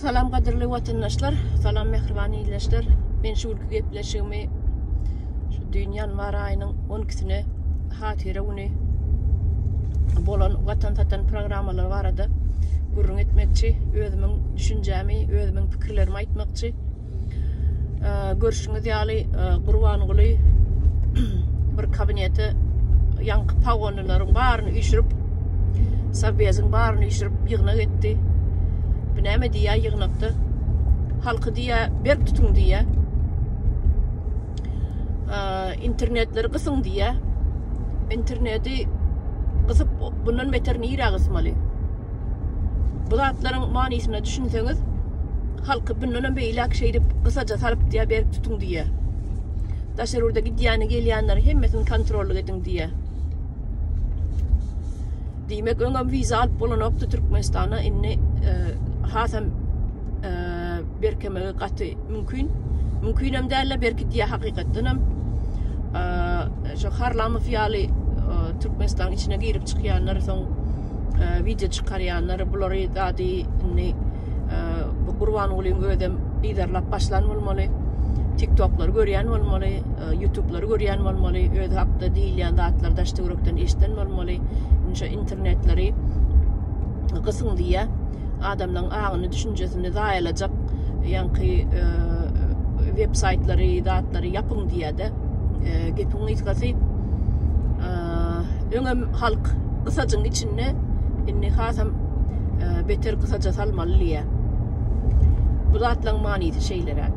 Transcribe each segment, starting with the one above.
Salam gadyrly watandaşlar, salam mähriban ildeşler. Men şu günki gepleşigimi şu düýn ýanwar aýynyň 12-sine hatyra güni bolan watan satan programmalar barada gürrüň etmekçi, özümiň düşünjämi, özümiň pikirlerimi aýtmakçy. Görşüňiz ýaly, e, Gurbanguly bir kabinete ýaňky pagonlylaryň baryny üýşürip, Sabbeziň baryny üýşürip ýygnak etdi. Bu näme diýýär ýygnakda? Halky diýýär, berk tutuň diýýär. E, internetleri gysyň diýýär. Interneti gysyp, bundan beter nirä gysmaly? Bu zatlaryň manysyna düşünseňiz, halky bundanam beýläk şeýdip gysaja salyp diýýär, berk tutuň diýýär. Daşary ýurda gidýäni, gelýänleri hemmesini kontrollyk ediň diýýär. Diýmek, öňem wiza alyp bolanokdy Türkmenistana, indi e, hasam e, berkemegi gaty mümkin. Mümkinem däl-de berkidýär hakykatdan hem. E, şu Harlamow ýaly Türkmenistanyň içine girip çykýanlar soň wideo çykarýanlar bulary zady indi bu Gurbangulyň özem yzarlap başlan bolmaly. TikToklary görýän bolmaly, YouTube'lary görýän bolmaly, öz hakda diýilýän zatlary daşda ýürekden eşden bolmaly. Şu internetleri gysyň diýýä. Adamlaryň aňyny, düşünjesini zaýalajak ýaňky web saýtlary, zatlary ýapyň diýýä-de. Gepiň gysgasy, Öňem halk gysajyň içinde indi hasam beter gysaja salmaly diýýär. Bu zatlaň manysy şeýleräk.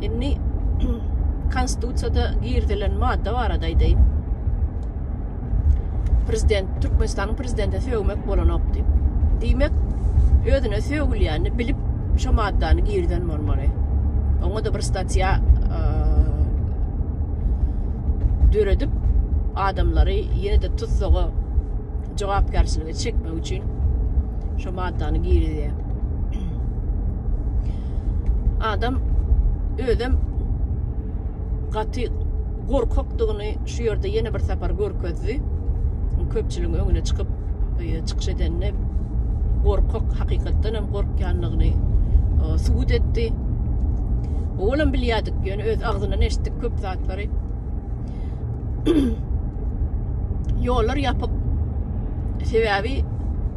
Indi konstitusiýada girizilen madda barada aýdaýyn. Prezident Türkmenistanyň prezidenti sögmek bolanok diýip. Diýmek, özüne sögülýänini bilip şu maddany girizen bolmaly. Oňa da bir statiýa döredip, adamlary ýene-de tussaga jogapkärçilige çekmek üçin şu maddany girizýär. Adam özem gaty gorkakdygyny şu ýerde ýene bir sapar görkezdi. Köpçüligiň öňüne çykyp e, çykyş edende gorkak hakykatdan hem gorkýandygyny e, subut etdi. Olam bilýärdik, ýöne öz agzyndan eşitdik köp zat. ýapypdyr. Ýollar ýapyp sebäbi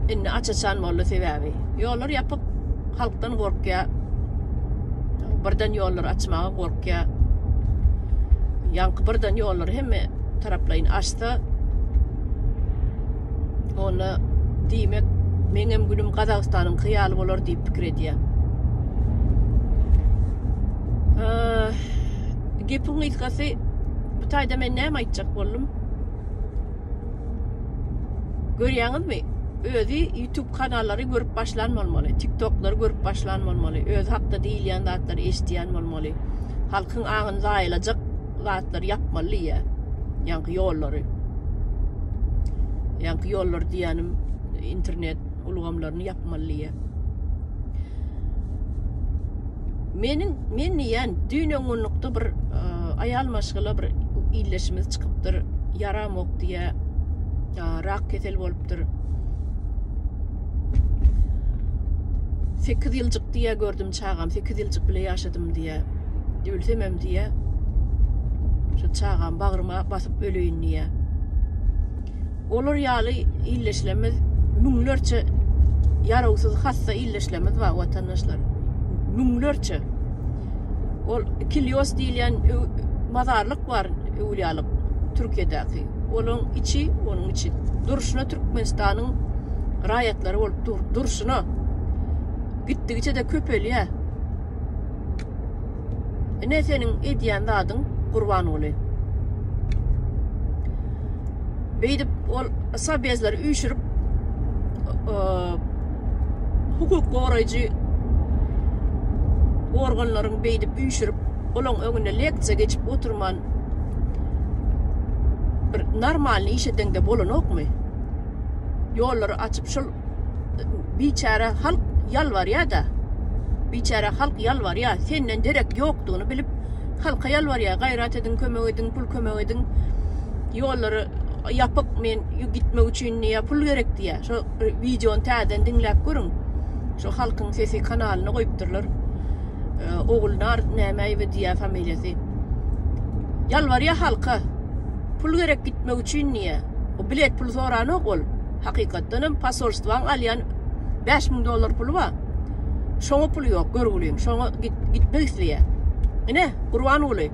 indi aç-açan boldy sebäbi. Ýollar ýapyp halkdan gorkýar. Birden ýollar açmaga gorkýar. Ýaňky birden ýollar hemme taraplaýyn açsa onda diýmek meňem günüm Gazagystanyň hyýaly bolar diýip pikir edýär. Gepiň gysgasy bu taýda men näme aýtjak boldum? Görýäňizmi? Özi YouTube kanallary görüp başlan bolmaly, TikToklary görüp başlan bolmaly, özi hakda diýilýän zatlary eşidýän bolmaly. Halkyň aňyny zaýalajak zatlary ýapmaly diýýä. Ýaňky ýollary. Ýaňky ýollar diýýänim internet ulgamlaryny ýapmaly diýýär. Meniň men diýýän düýn öňňunlukda bir e, aýal maşgala bir illeşimiz çykypdyr. Ýaramok diýýär. E, rak kesel bolupdyr. 8 ýyljyk diýýär gördüm çagam 8 ýyljyk bile ýaşadym diýýär. Ölsemem diýýär. Şu çagam bagryma basyp öleýin diýýär. Olar ýaly ildeşlerimiz müňlerçe ýarawsyz hassa ildeşlerimiz bar watandaşlar. Müňlerçe. Ol Kilios diýilýän mazarlyk bar öwlýalyk Türkiýedäki. Onuň içi, onuň içi durşuna Türkmenistanyň raýatlary bolup dur, durşuna. Gitdigiçe-de köpelýär. Ine seniň edýän zadyň Gurbanguly. Beýdip ol sabezleri üýşürip hukuk goraýjy organlaryň beýdip üýşürip olaň öňünde leksiýa geçip oturman bir normalny iş edeňde bolanokmy? Ýollary açyp şol biçäre halk ýalbarýar-da. Biçäre halk ýalbarýar. Senden derek ýokdugyny bilip, halka ýalbarýar. Gaýrat ediň, kömek ediň, pul kömek ediň. Ýollary ýapyk, men gitmek üçin diýýär, pul gerek diýýär. Şo wideony täzeden diňläp görüň. Şo Halkyň sesi kanalyna goýupdyrlar. Ogulnar nämeýewi diýýär familiýasy. Ýalbarýar halka. Pul gerek gitmek üçin diýýär. O bilet puly soranok ol. Hakykatdan hem posolstwaň alýan bäş müň dollar puly bar. Şoňa puly ýok, görgüliň. Şoňa git, gitmek isleýär. Ine, Gurbanguly.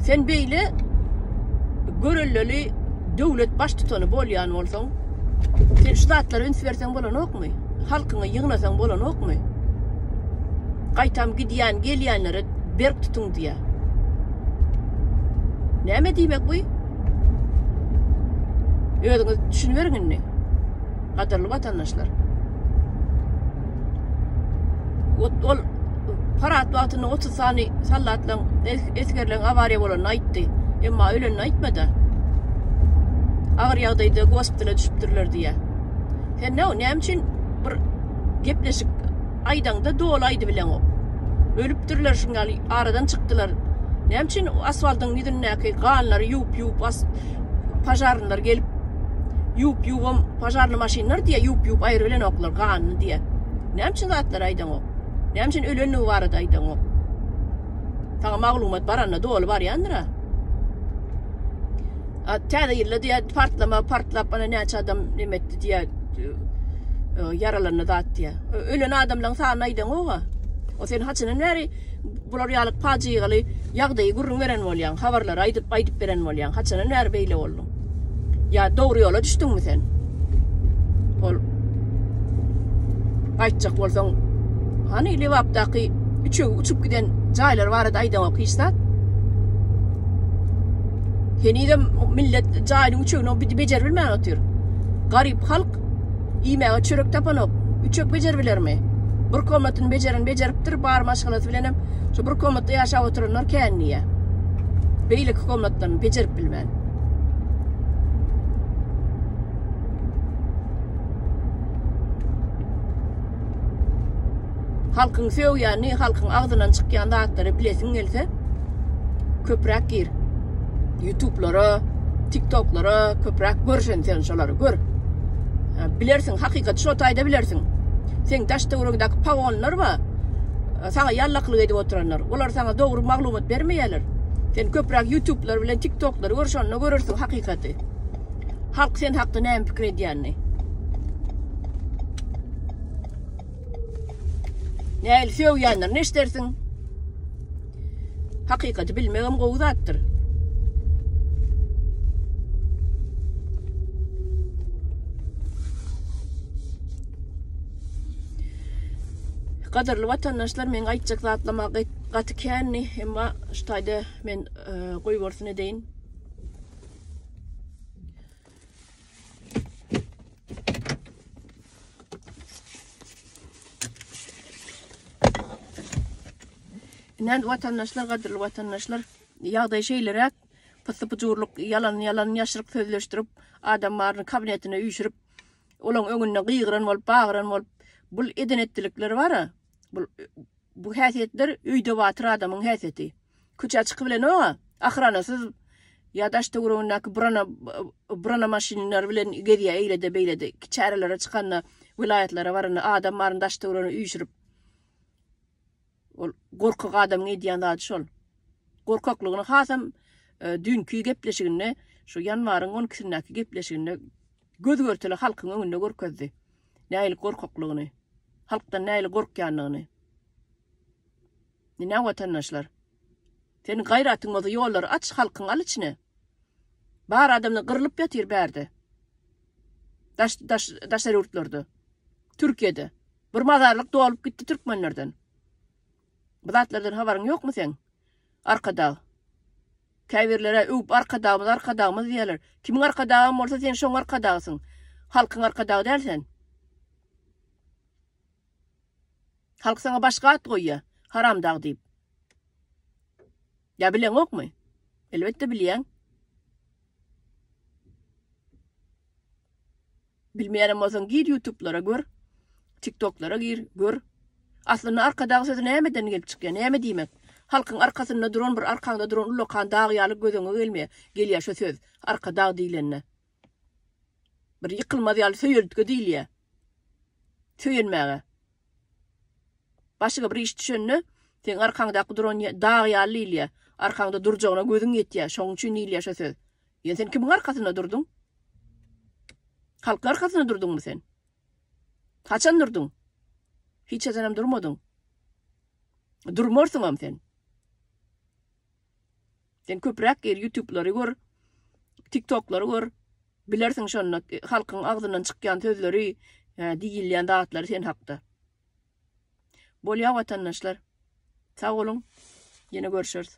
Sen beýle görelleli döwlet baştutany bolýan bolsaň, sen şu zatlara üns berseň bolanokmy? Halkyňy ýygnasaň bolanokmy? Gaýtam gidýän, gelýänlere berk tutuň diýýär. Näme diýmek bu? Özüňiz düşünmeriň indi. Gadyrly watandaşlar. Ol parat wagtynda 30 sany sallatlaň esgerleň awariýa bolany aýtdy. Emma ölenini aýtmady. Agyr ýagdaýda gospitala düşüpdirler diýýär. Sen näme üçin bir gepleşik aýdaňda doly aýdybileňok. Ölüpdirler şuň ýaly aradan çykdylar. Näme üçin asfaltyň ýüzündäki ganlary ýuwup-ýuwup as pažarnylar gelip ýuwup-ýuwubam pažarny maşynlar diýýär ýuwup-ýuwup aýrybilenoklar ganyny diýýär. Näme üçin zatlary aýdaňok. Näme üçin ölenligi barada aýdaňok. Saňa maglumat baranda doly barýandyr-a. A täze ýylda diýýär partlama partlap ana näçe adam neme etdi diýýär ýaralandy zat diýýär. Ölen adamlaň sanyny aýdaňoga. O sen haçanan bäri bular ýaly pajygaly ýagdaýy gürrüň beren bolýaň, habarlary aýdyp aýdyp beren bolýaň. Haçanan bäri beýle bolduň? Ýa dogry ýola düşdüňmi sen? Ol aýtjak bolsaň, hany Lebapdaky üçegi uçup giden jaýlar barada aýdaňok hiç zat? Henizem millet jaýynyň üçegini bejerip bilmän otyr. Garyp halk Iýmäge çörek tapanok. Üçek bejerbilermi? Bir komatyny bejeren bejeripdir, bar maşgalasy bilenem şu bir komatda ýaşap oturanlar kän diýýär. Beýleki komatdan bejerip bilmän. Halkyň söýýänini, halkyň agzyndan çykýan zatlary bilesiň gelse, köpräk gir. Ýutublara, tiktoklara köpräk gör sen sen şolary gör. Bilersiň, hakykaty şo taýda bilersiň. Seň daş-töweregiňdäki pawonlar we saňa ýallakylyk edip oturanlar, olar saňa dogry maglumat bermeýärler. Sen köpräk ýutublar bilen tiktoklary gör, şonda görersiň hakykaty. Halk sen hakda näme pikir edýänini. Nähili söýýänlerini eşdersiň. Hakykaty bilmegem gowy zatdyr. Gadyrly watandaşlar, men aýtjak zatlama gaty känni, emma şu taýda men e, goýbersin edeýin. Nen watandaşlar, gadyrly watandaşlar, ýagdaý şeýleräk, pysy pyjurlyk, ýalan ýalan ýaşryk sözleşdirip, adam baryny kabinetine üýşürip, olaň öňünde gygyran bolup, bagyran bolup, bul eden etdilikleri bara, bul Bu häsiýetler öýde batyr adamyň häsiýeti. Köçä çyky bilenok-a, ahyranasyz ýa daş töweregindäki brana brana maşynlar bilen gezýä eýlede beýlede. Çärelere çykanda, welaýatlara baranda adam baryny daş töweregini üýşürip. Ol gorkak adamyň edýän zady şol. Gorkaklygyny hasam düýnki gepleşiginde, şu ýanwaryň on ikisindäki gepleşiginde göz-görtele halkyň öňünde görkezdi. nähili gorkaklygyny, halkdan nähili gorkýanlygyny. Diňläň watandaşlar. Seniň gaýratyň bolsa ýollary aç, halkyňy al içine. Bar adamlar gyrlyp ýatyr bärde. Daş daş daşary ýurtlarda. Türkiýede. Bir mazarlyk dolup gitdi türkmenlerden. Bu zatlardan habaryň ýokmy seň? Arkadag. Käbirler-ä öwüp Arkadagymyz, Arkadagymyz diýýärler. Kimiň Arkadagam bolsa sen şoň Arkadagsyň. Halkyň Arkadagy däl sen. Halk saňa başga at goýýar, Haramdag diýip. Ýa bileňokmy? Elbetde bilýäň. Bilmeýänem bolsaň gir ýutublara gör, tiktoklara gir, gör. Aslynda Arkadag sözi nämeden gelip çykýar, näme diýmek? Halkyň arkasynda duran bir arkaňda duran ullakan dag ýaly göz öňe gelmeýär, gelýär şo söz, Arkadag diýlende. Bir ýykylmaz ýaly söýeltge diýilýär. Söýenmäge. Başyňa bir iş düşende seň arkaňdaky duran dag ýaly diýilýär. Arkaňda durjagyna gözüň ýetýär, şoň üçin diýilýär şo söz. Ýöne sen kimiň arkasynda durduň? Halkyň arkasynda durduňmy sen? Haçan durduň? Hiç haçanam durmadyň. Durmarsyňam sen. Sen köpräk gir YouTube'lary gör, TikTok'lary gör. Bilersiň şonda e, halkyň agzyndan çykýan sözleri, e, diýilýän zatlary sen hakda. Bolýar watandaşlar. Sag boluň. Ýene görüşeris.